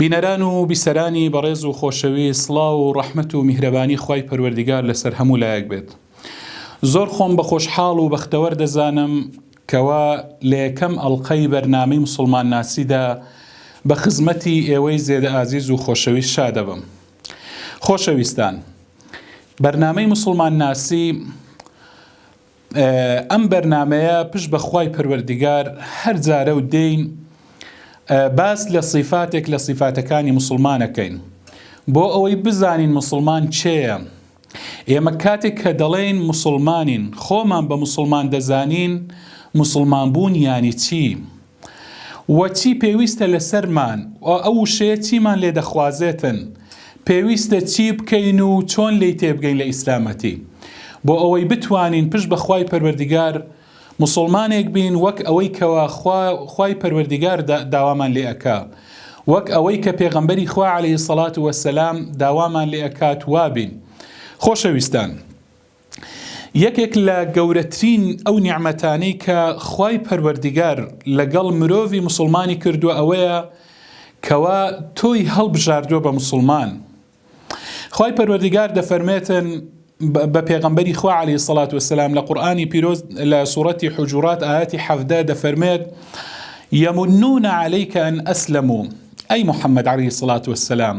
بینەران و بیسەرانی بەڕێز و خۆشەویست سڵاو و ڕەحمەت و میهرەبانی خوای پەروەردیگار لەسەر هەموو لایەک بێت زۆر خۆم بە خۆشحاڵ و بەختەوەر دەزانم کەوا لە یەکەم ئەڵقەی بەرنامەی مسوڵمان ناسیدا بە خزمەتی ئێوەی زێدە ئازیز و خۆشەویست شادەبم خۆشەویستان بەرنامەی مسوڵمان ناسی ئەم بەرنامەیە پشت بە خوای پەروەردگار هەر جارە و دێین باس لە سیفاتێک لە سیفاتەکانی مسلمانەکەین بۆ ئەوەی بزانین مسلمان چێە ئێمە کاتێک کە دەڵێین مسلمانین خۆمان بە مسلمان دەزانین مسلمان بوون یانی چی؟ و چی پێویستە لەسەرمان و ئەو وشەیە چیمان لێ دەخوازێتن پێویستە چی بکەین و چۆن لێی تێبگەین لە ئیسلامەتی بۆ ئەوەی بتوانین پشت بە خوای پەروەردیگار موسوڵمانێک بین وەک ئەوەی کەوا خوا خوای پەروەردیگار دا داوامان لێ ئەکا وەک ئەوەی کە پێغەمبەری خوا علیە سەڵات وەسەلام داوامان لێ ئەکات وابین خۆشەویستان. یەکێک لە گەورەترین ئەو نیعمەتانەی کە خوای پەروەردیگار لەگەڵ مرۆڤی موسڵمانی کردووە ئەوەیە کەوا تۆی هەڵبژاردووە بە موسڵمان خوای پەروەردیگار دەفەرمێتن بە پێغەمبەری خوا علیه سڵات وسلام لە قورآانی پیرۆز لە سوڕەتی حجورات ئاەتی حەفدە دەفەرمێت یەمنونە عەلیکە ئەن ئەسلم و ئەی محەممەد علی سڵات وسلام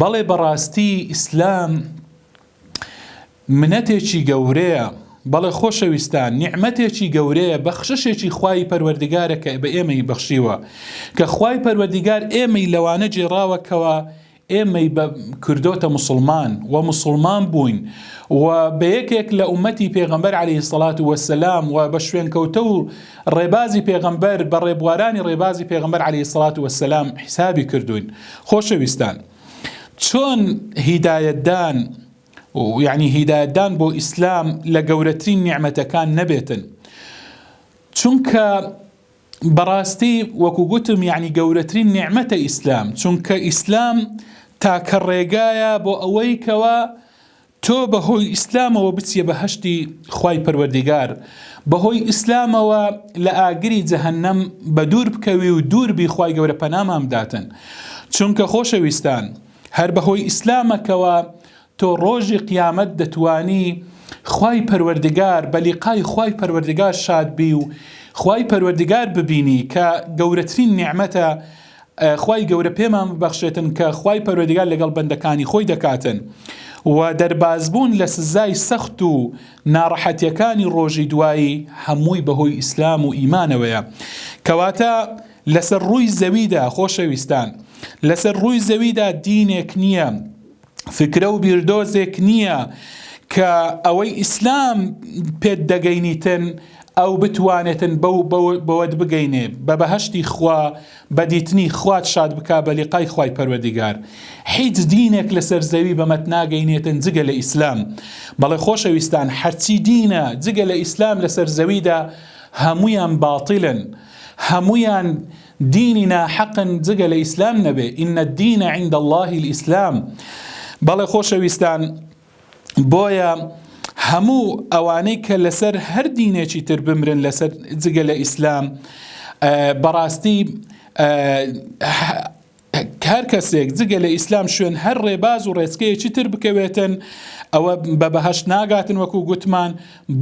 بەڵێ بەڕاستی ئیسلام منەتێکی گەورەیە، بەڵێ خۆشەویستان نیعمەتێکی گەورەیە، بەخششێکی خوای پەروەردگارە کە بە ئێمەی بەخشیوە، کە خوای پەروەردگار ئێمەی لەوانە گێڕاوە کەوا ئێمەی بە کردۆتە موسڵمان و موسڵمان بووین و بە یەکێک لە ئومەتی پێغەمبەر عەلەیهی سەڵات وەسەلام و بە شوێنکەوتە و ڕێبازی پێغەمبەر بە ڕێبوارانی ڕێبازی پێغەمبەر عەلەیهی سەڵات وەسەلام حیسابی کردووین. خۆشەویستان چۆن هیدایەتدان یعنی هیدایەتدان بۆ ئیسلام لە گەورەترین نیعمەتەکان نەبێتن چونکە بەڕاستی وەکو گوتم یعنی گەورەترین نیعممەتە ئیسلام چونکە ئیسلام تاکە ڕێگایە بۆ ئەوەی کەوە تۆ بە هۆی ئیسلامەوە بچیە بەهەشتی خوای پەروەردیگار بە هۆی ئیسلامەوە لە ئاگری جەهەنەم بە دوور بکەوی و دوور بی خوای گەورە پەنامان بداتن چونکە خۆشەویستان هەر بە هۆی ئیسلامەکەوە تۆ ڕۆژی قیامەت دەتوانی خوای پەروەردیگار بە لیقای خوای پەروەردیگار شاد بی و خوای پەروەردیگار ببینی کە گەورەترین نیعمەتە خوای گەورە پێمان ببەخشێتن کە خوای پەروەردگار لەگەڵ بەندەکانی خۆی دەکاتن و دەربازبوون لە سزای سەخت و ناڕەحەتیەکانی ڕۆژی دوایی هەمووی بەهۆی ئیسلام و ئیمانەوەیە کەواتە لەسەر ڕووی زەویدا خۆشەویستان لەسەر ڕووی زەویدا دینێک نییە فکرە و بیردۆزێک نییە کە ئەوەی ئیسلام پێت دەگەینیتن ئەو بتوانێتن بەو بەوەت بگەینێ بە بەهشتی خوا بە دیتنی خوات شاد بکا بە لقای خوای پەروەردگار حیچ دینێک لەسەر زەوی بەمەت ناگەینێتن جگە لە ئیسلام بەڵێ خۆشەویستان هەرچی دینە جگە لە ئیسلام لەسەر زەویدا هەمویان باتیلن هەمویان دینی ناحەقن جگە لە ئیسلام نەبێ ان الدین عند اللە الاسلام بەڵێ خۆشەویستان بۆیە هەموو ئەوانەی کە لەسەر هەر دینێکی تر بمرن لەسەر جگە لە ئیسلام بەڕاستی هەر کەسێک جگە لە ئیسلام شوێن هەر ڕێباز و ڕێچکەیەکی تر بکەوێتن ئەوە بە بەهەشت ناگاتن وەکو گوتمان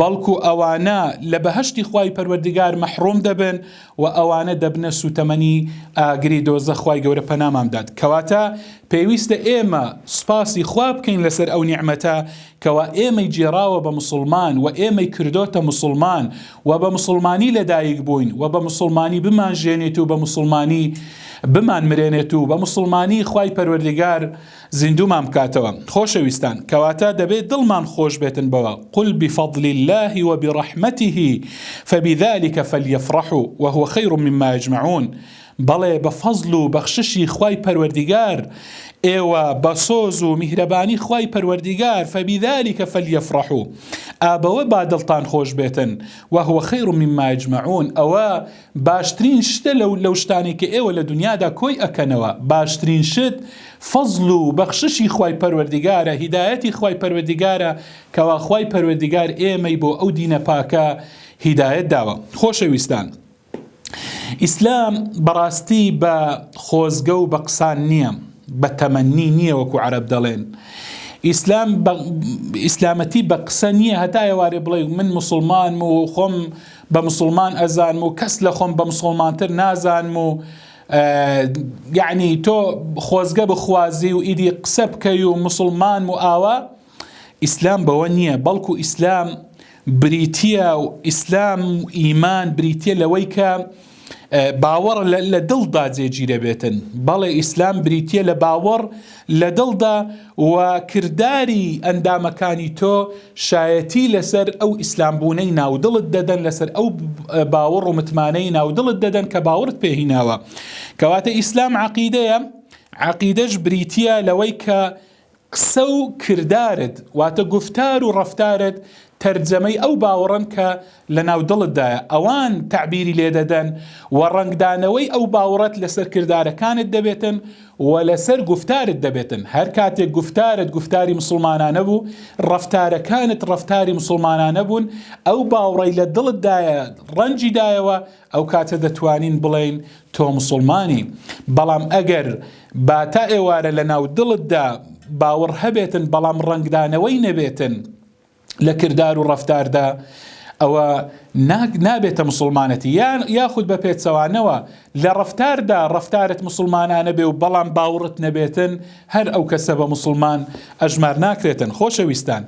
بەڵکو ئەوانە لە بەهەشتی خوای پەروەردگار مەحڕوم دەبن و ئەوانە دەبنە سوتەمەنی ئاگری دۆزەخ خوای گەورە پەنامان بدات کەواتە پێویستە ئێمە سوپاسی خوا بکەین لەسەر ئەو نیعمەتە کەوا ئێمەی گێڕاوە بە موسڵمان و ئێمەی کردۆتە موسڵمان و بە موسڵمانی لە دایک بووین و بە موسڵمانی بمان ژێنێت و بە موسڵمانی بمان مرێنێت و بە موسڵمانی خوای پەروەردگار زیندومان بکاتەوە خۆشەویستان کەواتە دەبێت دڵمان خۆش بێتن بەوە قل بفضل الله وبرحمته فبذلك فليفرحوا وهو خير مما يجمعون بەڵێ بە فەزڵ و بەخششی خوای پەروەردیگار ئێوە بە سۆز و میهرەبانی خوای پەروەردیگار فبذلک فلیفرحو ئا بەوە با دڵتان خۆش بێتن وهو خیر مما یجمعون ئەوە باشترین شتە لەو لەو شتانەی کە ئێوە لە دنیادا کۆی ئەکەنەوە باشترین شت فەزڵ و بەخششی خوای پەروەردیگارە هیدایەتی خوای پەروەردیگارە کەوا خوای پەروەردیگار ئێمەی بۆ ئەو دینە پاکە هیدایەت داوە خۆشەویستان ئیسلام بەڕاستی بە خۆزگە و بە قسان نییە بە تەمەنی نییە وەکو عەرب دەڵێن ئیسلام ئیسلامەتی بە قسە نییە هەتا ئێوارێ بڵێ من مسلمانم و خۆم بە مسلمان ئەزانم و کەس لە خۆم بە مسلمانتر نازانم و یعنی تۆ خۆزگە بخوازی و ئیدی قسە بکەی و مسلمان و ئاوا ئیسلام بەوە نییە، بەڵکو ئیسلام بریتییە و ئیسلام و ئیمان بریتییە لەوەی کە باوەڕ لە دڵدا جێگیرەبێتن، بەڵێ ئیسلام بریتییە لە باوەڕ لە دڵدا و کرداری ئەندامەکانی تۆ شایەتی لەسەر ئەو ئیسلام بوونەی ناودڵت دەدەن لەسەر ئەو باوەڕ و متمانەی ناودڵت دەدەن کە باوەڕت پێهیناوە کەواتە ئیسلام عقیدەیە عقیدەش بریتییە لەوەی کە قسە و کردارت، واتە گوفتار و ڕەفتارت تەرجەمەی ئەو باوەڕەن کە لەناو دڵتدایە، ئەوان تەعبیری لێدەدەن و ڕەنگدانەوەی ئەو باوەڕەت لەسەر کردارەکانت دەبێتن و لەسەر گوفتارت دەبێتن، هەر کاتێک گوفتارت گوفتاری مسوڵمانانە بوو، ڕەفتارەکانت ڕەفتاری مسوڵمانانە بوون، ئەو باوڕەی لە دڵتدایە ڕەنگیدایەوە، ئەو کاتە دەتوانین بڵێین تۆ مسوڵمانی، بەڵام ئەگەر با تا ئێوارە لە ناو دڵتدا باوەڕ هەبێتن بەڵام ڕەنگدانەوەی نەبێتن لە کردار و ڕەفتاردا ئەوە نابێتە مسوڵمانەتی یان یاخود بە پێچەوانەوە لە ڕەفتاردا ڕەفتارت مسوڵمانانە بێ و بەڵام باوڕت نەبێتن هەر ئەو کەسە بە موسڵمان ئەژمار ناکرێتن. خۆشەویستان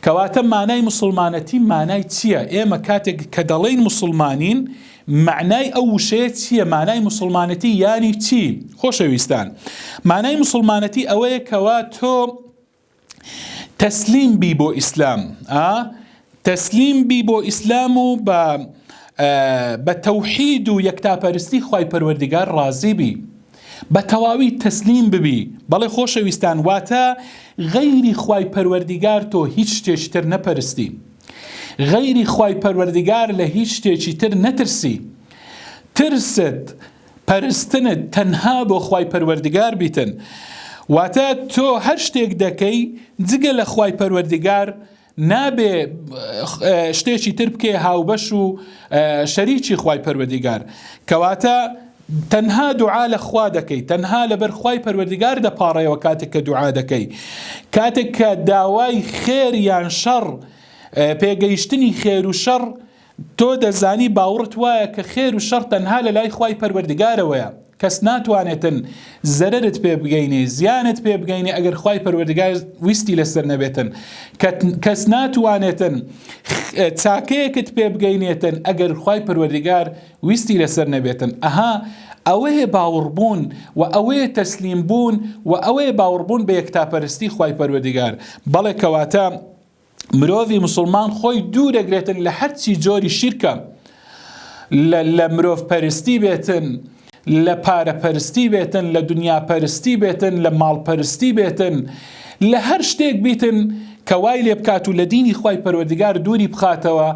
کەواتە مانای موسڵمانەتی مانای چییە؟ ئێمە کاتێک کە دەڵێین موسڵمانین مەعنای ئەو وشەیە چییە؟ مانای موسڵمانەتی یانی چی؟ خۆشەویستان مانای موسڵمانەتی ئەوەیە کەوا تۆ تەسلیم بی بۆ ئیسلام ئا تەسلیم بی بۆ ئیسلام و بە بە تەوحید و یەکتاپەرستی خی پەروەردگار ڕازی بی. بە تەواوی تەسلیم ببی بەڵێ خۆشەویستان واتە غەیری خوای پەروەردیگار تۆ هیچ شتێکی تر نەپەرستی غەیری خوای پەروەردیگار لە هیچ شتێکی تر نەترسی ترست پەرستنت تەنها بۆ خوای پەروەردیگار بیتن واتە تۆ هەر شتێک دەکەی جگە لە خوای پەروەردیگار نابێ شتێکی تر بکەی هاوبەش و شەریکی خوای پەروەردیگار کەواتە تەنها دوعا لە خوا دەکەی تەنها لەبەر خوای پەروەردگار دەپاڕێەوە کاتێک کە دوعا دەکەی کاتێک کە داوای خێر یان شەڕ پێگەیشتنی خێر و شەڕ تۆ دەزانی باوڕت وایە کە خێر و شەڕ تەنها لە لای خوای پەروەردگارەوەیە کەس ناتوانێتن زەرەرت پێ بگەینێ زیانت پێ بگەینێ ئەگەر خوای پەروەردگار ویستی لەسەر نەبێتن کەس ناتوانێتن چاکەیەکت پێ بگەینێتن ئەگەر خوای پەروەردگار ویستی لەسەر نەبێتن ئەها ئەوەیە باوەڕبوون و ئەوەیە تەسلیم بوون و ئەوەیە باوەڕبوون بە یەکتاپەرستی خوای پەروەردگار بەڵێ کەواتە مرۆڤی مسلمان خۆی دوو دەگرێتن لە هەرچی جۆری شیرکە لە مرۆڤ پەرستی بێتن لە پارەپەرستی بێتن لە دنیا پەرستی بێتن لە ماڵپەرستی بێتن لە هەر شتێک بیتن کە وای لێ بکات و لە دینی خی پەروەردگار دووری بخاتەوە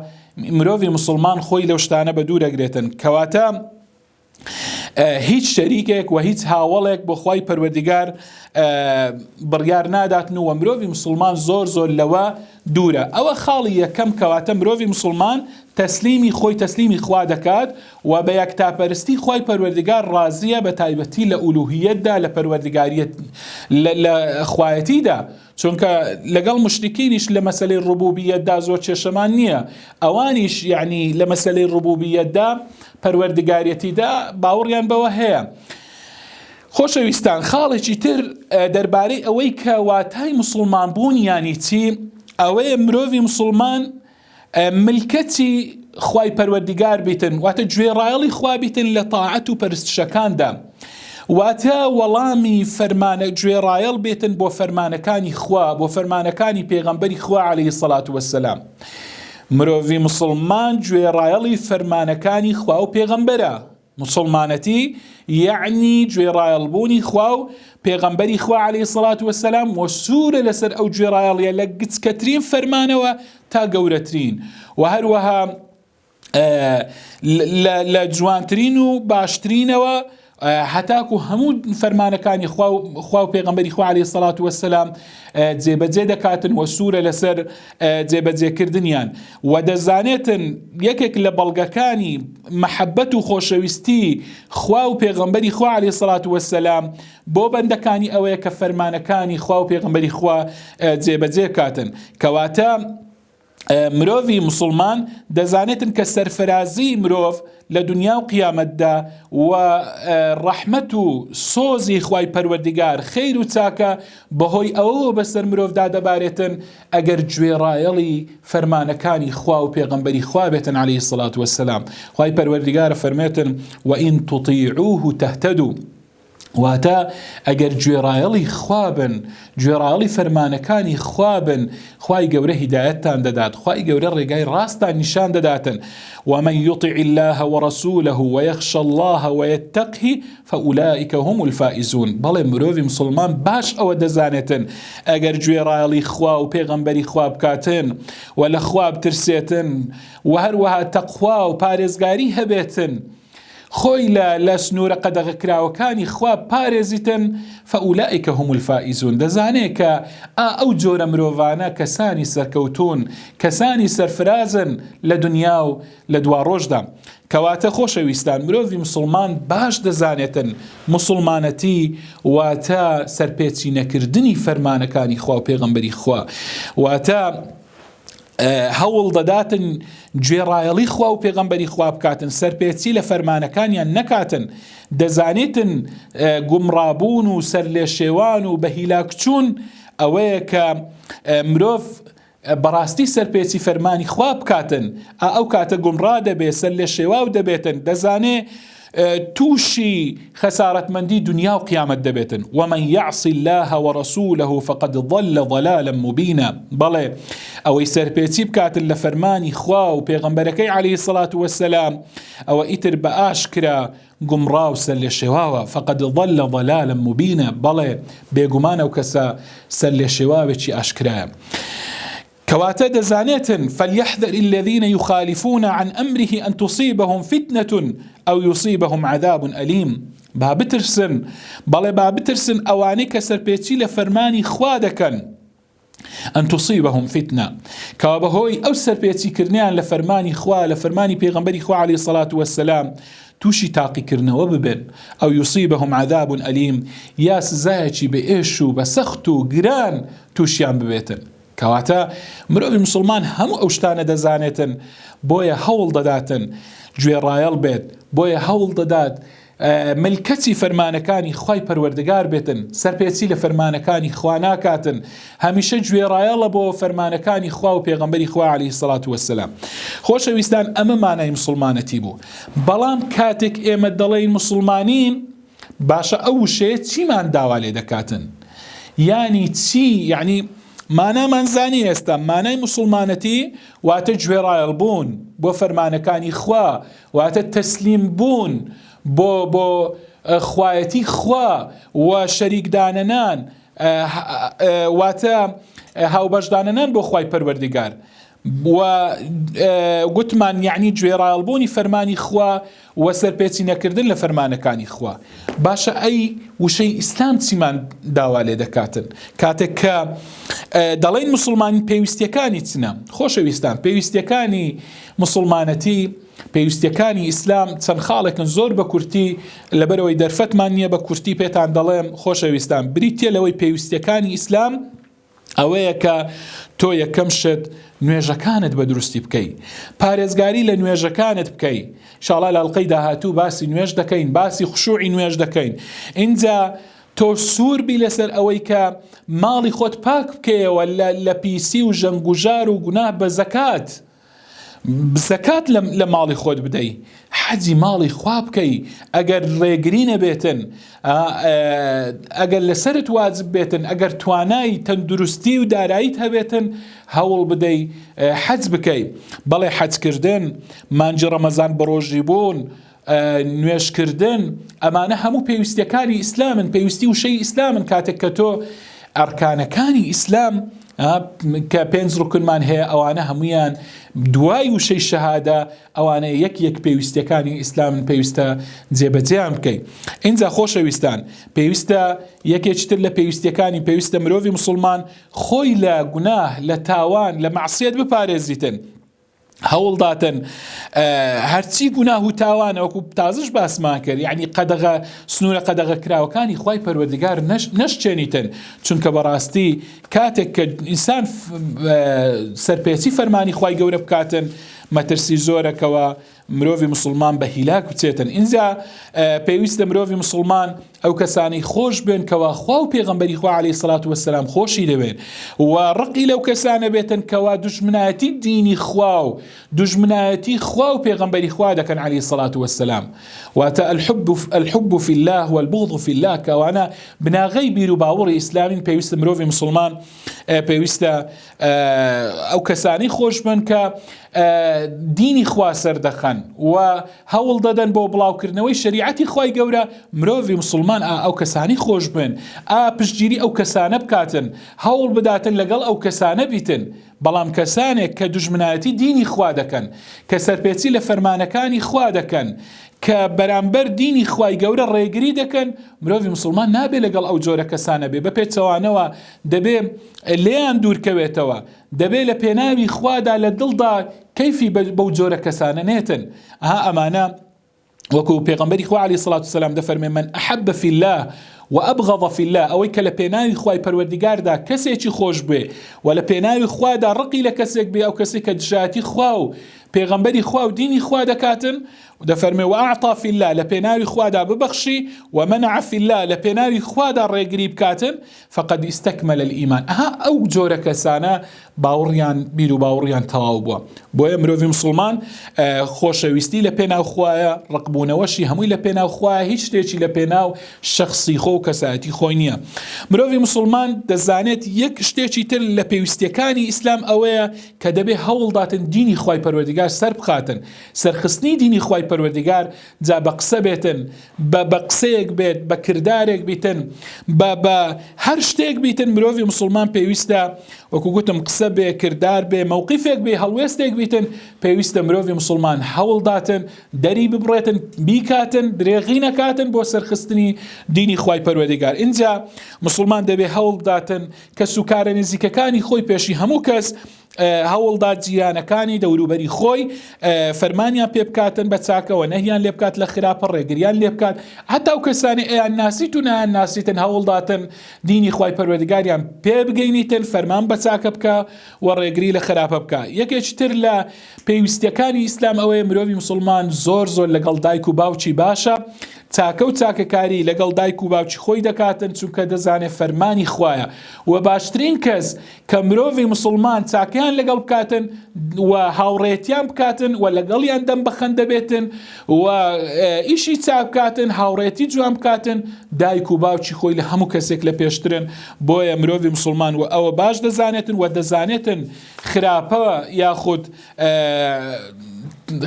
مرۆڤی مسلمان خۆی لەو شتانە بە دوورەگرێتن کەواتە هیچ شەریکێک و هیچ هاوڵێک بۆ خی پەروەردگار بڕیار ناداتن و مرۆڤی مسلمان زۆر زۆر لەوە دوورە ئەوە خاڵی یەکەم کەواتە مرۆڤی مسلمان تەسلیمی خۆی تەسلیمی خوا دەکات و بە یەک تاپەرستی خی پەروەردگار ڕازیە بە تایبەتی لە ئولوهیتدا لە پەروەردگاریت لە خوایەتیدا چونکە لەگەڵ مشتکینیش لە مەسلەی ڕبوبیەتدا زۆر کێشەمان نییە ئەوانیش یعنی لە مەسلەی ڕبوبیەتدا پەروەردگارێتیدا باوەڕیان بەوە هەیە. خۆشەویستان خاڵێکی تر دەربارەی ئەوەی کە واتای مسلمان بوون یانی چی ئەوەیە مرۆڤی مسلمان ملکەتی خوای پەروەردگار بیتن واتە گوێ ڕایەڵی خوا بیتن لە تاعەت و پەرستشەکاندا واتە وەڵامی فەرمانە گوێ ڕایەڵ بێتن بۆ فەرمانەکانی خوا بۆ فەرمانەکانی پێغەمبەری خوا عليه سەلات وەسلام مرۆڤی مسوڵمان گوێڕایەڵی فەرمانەکانی خوا و پێغەمبەرە مسلمانەتی یعنی گوێڕایەڵبوونی خوا و پێغەمبەری خوا عليه سڵات وسلام و سوورە لەسەر ئەو گوێڕایەڵیە لە گچکەترین فەرمانەوە تا گەورەترین و هەروەها لە جوانترین و باشترینەوە هەتاکو هەموو فەرمانەکانی خوا و پێغمبەری خوا عليه سەڵات وەسەسلام جێبەجێ دەکاتن وە سوورە لەسەر جێبەجێکردنیان و دەزانێتن یەکێک لە بەڵگەکانی محەبەت و خۆشەویستی خوا و پێغمبەری خوا عليه سەڵات وەسەسلام بۆ بەندەکانی ئەوەیە کە فەرمانەکانی خوا و پێغمبەری خوا جێبەجێ کاتن کەواتە مرۆڤی مسوڵمان دەزانێتن کە سەرفرازی مرۆڤ لە دنیا و قیامەتدا و ڕەحمەت و سۆزی خی پەروەردگار خیر و چاکە بەهۆی ئەوەوە بەسەر مرۆڤدا دەبارێتن ئەگەر گوێڕایەڵی فەرمانەکانی خوا و پێغمبەری خوا بێتن عليه سلات وسلام خی پەروەردگار فەرمێتن وئین توطیعوه تهتدو واتە ئەگەر گوێڕایەڵی خوابن گوێڕایەڵی فەرمانەکانی خوابن خوای گەورە هیدایەتتان دەدات خوای گەورە ڕێگای ڕاستان نیشان دەداتن ومن يطع الله ورسوله ويخشى الله ويتقه فأولئك هم الفائزون بەڵێ مرۆڤ مسلمان باش ئەوە دەزانێتن ئەگەر گوێڕایەڵی خوا و پێغەمبەری خواب بکاتن و لە خواب ترسێتن و هەروەها تەخوا و پارێزگاری هەبێتن خۆی لە لە سنوورە قەدەغەکراوەکانی خوا پارێزیتن فەئولائیکە هومول فائیزون دەزانێ کە ئا ئەو جۆرە مرۆڤانە کەسانی سەرکەوتوون کەسانی سەرفرازن لە دنیا و لە دواڕۆژدا کەواتە خۆشەویستان مرۆڤی مسلمان باش دەزانێتن مسلمانەتی واتە سەرپێچی نەکردنی فەرمانەکانی خوا و پێغەمبەری خوا واتە هەوڵ دەداتن گوێڕایەڵی خوا و پێغەمبەری خوا بکاتن سەرپێچی لە فەرمانەکانیان نەکاتن دەزانێتن گومڕابوون و سەر لێ شێوان و بە هیلاکچوون ئەوەیە کە مرۆڤ بەڕاستی سەرپێچی فەرمانی خوا بکاتن ئەو کاتە گومڕا دەبێت سەر لێ شێواو دەبێتن دەزانێ تووشی خەسارەتمەندی دونیا و قیامەت دەبێتن ومن یعص الله ورسوله فقد ضل ضلالا مبینا بەڵێ ئەوەی سەرپێچی بکاتن لە فەرمانی خوا و پێغەمبەرەکەی علیه الصلوة والسلام ئەوە ئیتر بە ئاشکرا گومڕا و سەرلێشێواوە فقد ضل ضلالا مبینا بەڵێ بێگومان ئەو کەسە سەرلێشێواوێکی ئاشکرایە کەواتە دەزانێتن، فلیحذر الذین یخالفون عن امره ان تصیبهم فتنە او یصیبهم عذاب الیم، با بترسن، بەڵێ با بترسن ئەوانەی کە سەرپێچی لە فەرمانی خوا دەکەن، ان تصیبهم فتنە، کەوا بەهۆی ئەو سەرپێچی کردنەیان لە فەرمانی خوا، لە فەرمانی پێغەمبەری خوا علیە الصلوة والسلام تووشی تاقیکردنەوە ببن، او یصیبهم عذاب الیم، یا سزایەکی بە ئێش و بە سەخت و گران تووشیان ببێتن. کەواتە مرۆڤی موسڵمان هەموو ئەو شتانە دەزانێتن بۆیە هەوڵ دەداتن گوێڕایەڵ بێت بۆیە هەوڵ دەدات ملکەچی فەرمانەکانی خی پەروەردگار بێتن سەرپێچی لە فەرمانەکانی خوا ناکاتن هەمیشە گوێڕایەڵە بۆ فەرمانەکانی خوا و پێغمبەری خوا علی سڵات وەسلام خۆشەویستان ئەمە مانای مسلمانەتی بوو بەڵام کاتێک ئێمە دەڵێین مسلمانین باشە ئەو وشەیە چیمان داوا لێ دەکاتن یانی چی یعنی مانامان زانی ئێستا مانای مسلمانەتی واتە گوێڕایەڵ بوون بۆ فەرمانەکانی خوا واتە تەسلیم بوون بۆ بۆ خوایەتی خوا و شەریکدانەنان واتە هاوبەشدانەنان بۆ خوای پەروەردگار و گوتمان، یەعنی گوێڕایەڵبوونی فەرمانی خوا و سەرپێچینەکردن لە فەرمانەکانی خوا. باشە ئەی وشەی ئیسلام چیمان داوا لێ دەکاتن؟ کاتێک کە دەڵێین موسڵمانی پێویستیەکانی چنە؟ خۆشەویستان پێویستیەکانی موسڵمانەتی پێویستیەکانی ئیسلام چەند خاڵێکن زۆر بە کورتی لەبەرەوەی دەرفەتمان نییە بە کورتی پێتان دەڵێم خۆشەویستان بریتە لەوەی پێویستیەکانی ئیسلام ئەوەیە کە تۆ یەکەم شت نوێژەکانت بە دروستی بکەی پارێزگاری لە نوێژەکانت بکەی شاڵا لە ئەڵلقەی داهاتوو باسی نوێژ دەکەین باسی خشوعی نوێژ دەکەین اینجا تۆ سوور بی لەسەر ئەوەی کە ماڵی خۆت پاک بکەیەوە لە لە پیسی و ژەنگوژار و گوناه بە زەکات زەکات لە ماڵی خۆت بدەی حەجی ماڵی خوا بکەی ئەگەر ڕێگری نەبێتن ئەگەر لەسرت واجب بێتن ئەگەر توانای تەندروستی و داراییت هەبێتن هەوڵ بدەی حەج بکەی بەڵێ حەجکردن مانجی ڕەمەزان بە ڕۆژی بوون نوێژکردن ئەمانە هەموو پێویستیەکانی ئیسلامن پێویستی وشەی ئیسلامن کاتێک کە تۆ ئەرکانەکانی ئیسلام کە پێنج ڕکنمان هەیە ئەوانە هەمویان دوای وشەی شەهادە ئەوانە یەک یەک پێویستەکانی ئیسلامن پێویستە جێبەجیان بکەین اینجا خۆشەویستان پێویستە یەکێکتر لە پێویستەکانی پێویستە مرۆڤی مسلمان خۆی لە گوناه لە تاوان لە معسیەت بپارێزیتن هەوڵداتن هەرچی گوناه و تاوانە وەکو تازش باسمان کرد یعنی قەدەغە سنوورە قەدەغە کراوەکانی خی پەروەردگار نەشچێنیتن چونکە بەڕاستی کاتێک کە ئینسان سەرپێچی فەرمانی خی گەورە بکاتن مەترسی زۆرەکەەوە مرۆڤ مسلمان بە هیلاک بچێتن اینجا پێویستە مرۆڤ مسلمان ئەو کەسانەی خۆش بێن کەوا خوا و پێغەمبەری خوا عەلەیهی سەڵات وەسەلام خۆشی دەوێن و ڕقی لەو کەسانە بێتن کەوا دوژمنایەتی دینی خوا و دوژمنایەتی خوا و پێغەمبەری خوا دەکەن عەلەیهی سەڵات وەسەلام واتە الحب الحب فی الله والبغض فی الله کەوانە بناغەی بیر و باوەڕی ئیسلامین پێویستە مرۆڤی مسلمان پێویستە ئەو کەسانی خۆشبن کە دینی خوا سەردەخەن و هەوڵ دەدەن بۆ بڵاوکردنەوەی شریعەتی خی گەورە مرۆڤی مسلمان ئەو کەسانی خۆشبن ئا پشتگیری ئەو کەسانە بکاتن هەوڵ بداتن لەگەڵ ئەو کەسانە بیتن بەڵام کەسانێک کە دژمنایەتی دینی خوا دەکەن کە سەرپێچی لە فەرمانەکانی خوا دەکەن کە بەرامبەر دینی خوای گەورە ڕێگری دەکەن مرۆڤی مسلمان نابێ لەگەڵ ئەو جۆرە کەسانە بێ بە پێچەوانەوە دەبێ لێیان دوورکەوێتەوە، دەبێ لە پێناوی خوادا لە دڵدا کەیفی بەو جۆرە کەسانە نێتن، ئەها ئەمانە وەکو پێغەمبەری خوا عەلەیهی سڵات وسەلام دەفەرمێ من ئەحەب فی اللە و ئەبغەض فی اللە ئەوەی کە لە پێناوی خوای پەروەردیگاردا کەسێکی خۆش بێ و لە پێناوی خوادا ڕقی لە کەسێک بێ ئەو کەسێک کە دژایەتی خوا و پێغەمبەری خوا و دینی خوا دەکاتن و دەفەرمێ و ئەعطا فی اللە لە پێناوی خوادا ببەخشی و منع فی اللە لە پێناوی خوادا ڕێگری بکاتن فقد استکمل الایمان ئەها ئەو جۆرە کەسانە باوڕیان بیر و باوڕیان تەواو بووە بۆیە مرۆڤی مسلمان خۆشەویستی لە پێناو خوایە ڕقبوونەوەشی هەمووی لە پێناو خوایە هیچ شتێکی لە پێناو شخصی خۆ و کەسایەتی خۆی نییە مرۆڤی مسلمان دەزانێت یەک شتێکی تر لە پێویستیەکانی ئیسلام ئەوەیە کە دەبێ هەوڵداتن دینی خی پەروەردگار سەر بخاتن سەرخستنی دینی خی پەروەردگار جا بە قسە بێتن، بە بە قسەیەک بێت، بە کردارێک بیتن، بە بە هەر شتێک بیتن، مرۆڤی مسوڵمان پێویستە وەکو گوتم قسە بێ، کردار بێ، مەوقیفێک بێ، هەڵوێستێک بیتن، پێویستە مرۆڤی مسوڵمان هەوڵداتن، دەری ببڕێتن، بیکاتن، درێغی نەکاتن بۆ سەرخستنی دینی خوای پەروەردگار. ئینجا مسوڵمان دەبێ هەوڵ بداتن کەسوکارە نزیکەکانی خۆی پێشی هەموو کەس هەوڵدا جیرانەکانی دەوروبەری خۆی فەرمانیان پێ بکاتن بە چاکەوە نەهیان لێ بکات لە خراپە ڕێگریان لێ بکات هەتا و کەسانی ئەیان ناسیت و نایان ناسیتن هەوڵداتن دینی خی پەروەردگاریان پێ بگەینیتن فەرمان بە چاکە بکە و ڕێگری لە خراپە بکە یەکێکتر لە پێویستەکانی ئیسلام ئەوەیە مرۆڤی مسلمان زۆر زۆر لەگەڵ دایک و باوکی باشە تاکە و تاکەکاری لەگەڵ دایک و باوکی خۆی دەکاتن چونکە دەزانێت فەرمانی خویە و باشترین کەس کە مرۆڤی مسلمان چاکەیان لەگەڵ بکاتن و هاوڕێتیان بکاتن و لەگەڵیان دەم بەخەن دەبێتن و ئیشی چاک بکاتن هاوڕێتی جوان بکاتن دایک و باوکی خۆی لە هەموو کەسێک لە پێشترن بۆیە مرۆڤی مسلمان و ئەوە باش دەزانێتن و دەزانێتن خراپەوە یاخود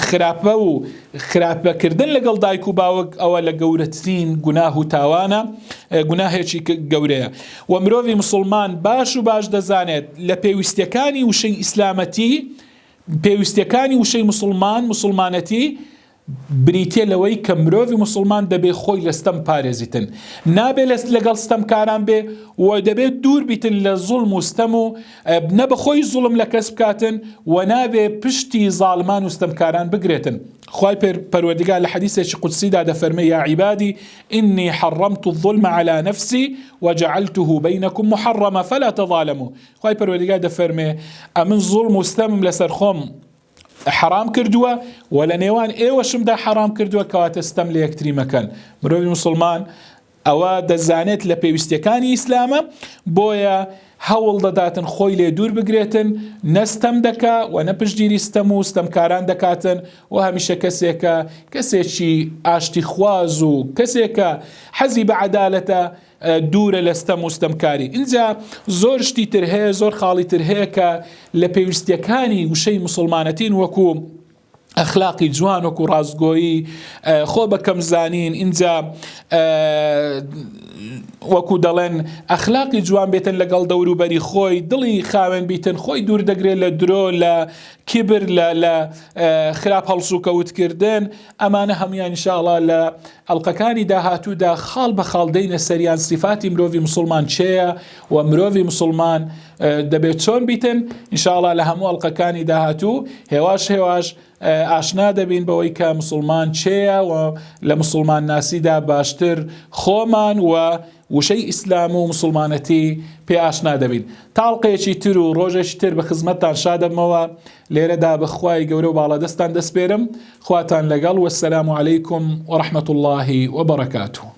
خراپە و خراپەکردن لەگەڵ دایک و باوک ئەوە لە گەورەترین گوناه و تاوانە گوناهێکی گەورەیە و مرۆڤی مسلمان باش و باش دەزانێت لە پێویستەکانی وشەی ئیسلامەتی پێویستەکانی وشەی مسلمان مسلمانەتی بریتیە لەوەی کە مرۆڤی موسڵمان دەبێ خۆی لە ستەم پارێزیتن نابێ لە لەگەڵ ستەمکاران بێ و دەبێت دوور بیتن لە زوڵم و ستەم و نە بە خۆی زوڵم لە کەس بکاتن و نابێ پشتی زاڵمان و ستەمکاران بگرێتن خوای پێر پەروەردگار لە حەدیثێکی قودسیدا دەفەرمێ یا عیبادی ئینی حەڕەمت الظلم على نفسی وجعلته بینکم محرمە فلا تظالموا خوای پەروەردگار دەفەرمێ ئەمن زوڵم و ستەمم لەسەر خۆم حەڕام کردووە و لە نێوان ئێوەشمدا حەڕام کردووە کەواتە ستەم لە یەکتری مەکەن مرۆڤی مسلمان ئەوە دەزانێت لە پێویستەکانی ئیسلامە بۆیە هەوڵ دەداتن خۆی لێ دوور بگرێتن نەستەم دەکا و نە پشتگیری ستەم و ستەمکاران دەکاتن و هەمیشە کەسێکە کەسێکی ئاشتی خواز و کەسێکە حەزی بە عەدالەتە دوورە لە ستەم و ستەمکاری ئینجا زۆر شتی تر هەیە زۆر خاڵی تر هەیە کە لە پێویستیەکانی وشەی مسلمانەتین وەکو ئەخلاقی جوان وەکو ڕاستگۆیی خۆ بەکەم زانین اینجا وەکو دەڵێن ئەخلاقی جوان بێتن لەگەڵ دەوروبەری خۆی دڵی خاوێن بیتن خۆی دوور دەگرێت لە درۆ لە کیبر لە لە خراپ هەڵسوکەوتکردن ئەمانە هەمویان شاڵا لە ئەڵقەکانی داهاتوودا خاڵ بە خاڵ دەینە سەریان سیفاتی مرۆڤی مسلمان چێە و مرۆڤی مسلمان دەبێت چۆن بیتن انشاءڵا لە هەموو ئەڵلقەکانی داهاتوو هێواش هێواش ئاشنا دەبین بەوەی کە مسلمان چێە و لە مسلمان ناسیدا باشتر خۆمان و وشەی ئیسلام و مسوڵمانەتی پێ ئاشنا دەبین تاڵقەیەکی تر و ڕۆژێکی تر بە خزمەتتان شادەبمەوە لێرەدا بەخوای گەورە و باڵا دەستان دەسپێرم خواتان لەگەڵ وەسەلام علیکم و رحمەت اللهی وبرکاته